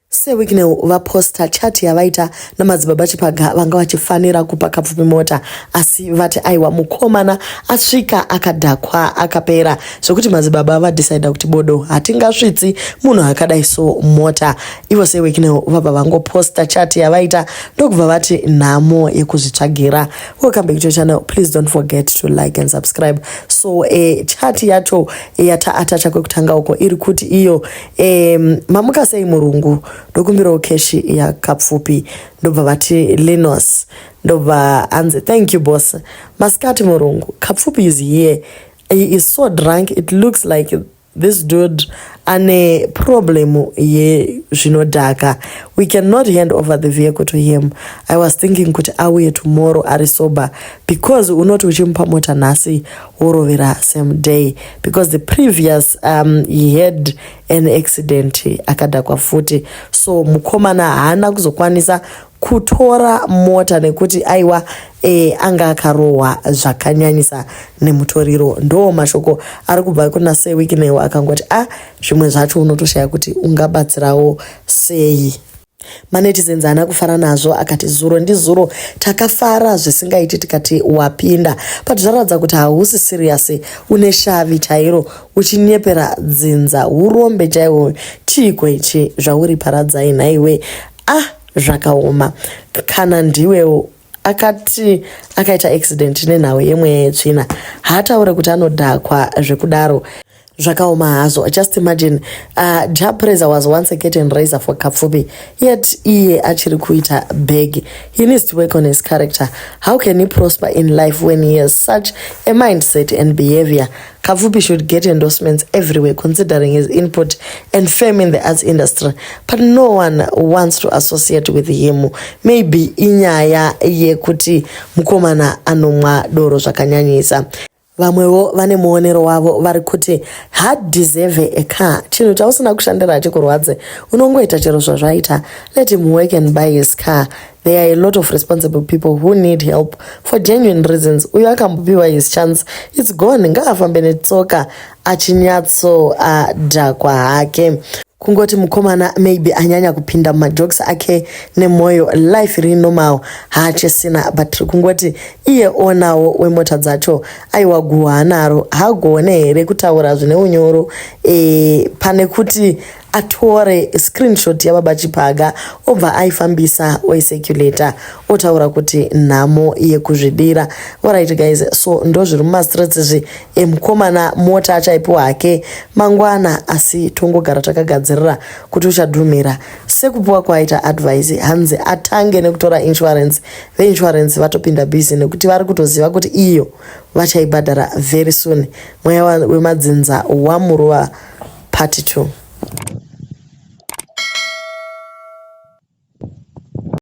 Sir Wicknell vaposta chat yavaita naMadzibaba Chipaga vanga vachifanira kupa Kapfupi mota asi vati aiwa mukomana asvika akadhakwa akapera zvekuti Madzibaba vadecider kuti bodo hatingasvitsi munhu akadai so mota. Ivo Sir Wicknell vabva vangoposta chat yavaita ndokubva vati nhamo yekuzvitsvagira. Welcome back to your channel. Please don't forget to like and subscribe. So eh, chat yacho yataatacha kwekutanga uko iri kuti iyo Um, mamuka sei murungu ndokumbirawo keshi yakapfupi ndobva vati linos ndobva anzi thank you boss masikati murungu kapfupi is here he is so drunk it looks like this dude ane problem yezvinodhaka we cannot hand over the vehicle to him i was thinking kuti auye tomorrow ari sober because unoti uchimupa mota nhasi worovera same day because the previous um, he had an accident akadhakwa futi so mukomana haana kuzokwanisa kutora mota nekuti aiwa e, anga akarohwa zvakanyanyisa nemutoriro ndo mashoko ari kubva kuna sewikinewo akangoti a ah, zvimwe zvacho unotoshaya kuti ungabatsirawo sei Manetizens haana kufara nazvo akati zuro ndizuro takafara zvisingaiti tikati wapinda but zvaratidza kuti hausi serious une shavi chairo uchinyepera dzinza urombe chaihwo chiiko ichi zvauri paradzai nhaiwe ah zvakaoma kana ndiwewo akati akaita accident nenhau yemweya yetsvina haataure kuti anodhakwa zvekudaro zvakaoma hazvo just imagine uh, ja praiser was once a curtain raiser for kapfupi yet iye achiri kuita bag he needs to work on his character how can he prosper in life when he has such a mindset and behavior Kapfupi should get endorsements everywhere considering his input and fame in the arts industry but no one wants to associate with him maybe inyaya yekuti mukomana anomwa doro zvakanyanyisa vamwewo vane muonero wavo vari kuti hadeserve a car chinhu chausina kushandira hachikurwadze unongoita chero zvazvaita let him work and buy his car There are a lot of responsible people who need help for genuine reasons. Uyo akambopiwa his chance, it's gone. Ngaafambe netsoka achinyatso adhakwa uh, hake. Kungoti mukomana maybe anyanya kupinda mumajokes ake nemwoyo, life iri normal, haachesina but kungoti iye onawo wemota dzacho aiwa guhwa anaro hagone here kutaura zvine unyoro e, pane kuti atore screenshot yababa Chiphaga obva aifambisa oiseculator otaura kuti nhamo yekuzvidira. Alright guys, so ndozviri mumastreets izvi emukomana mota achaipiwa hake mangwana asi tongogara takagadzirira kuti uchadhumira. Sekupiwa kwaita advice hanzi atange nekutora insurance. Veinsurance vatopinda busy nekuti vari kutoziva kuti iyo vachaibhadhara very soon. Mweya wemadzinza wamuruva part two.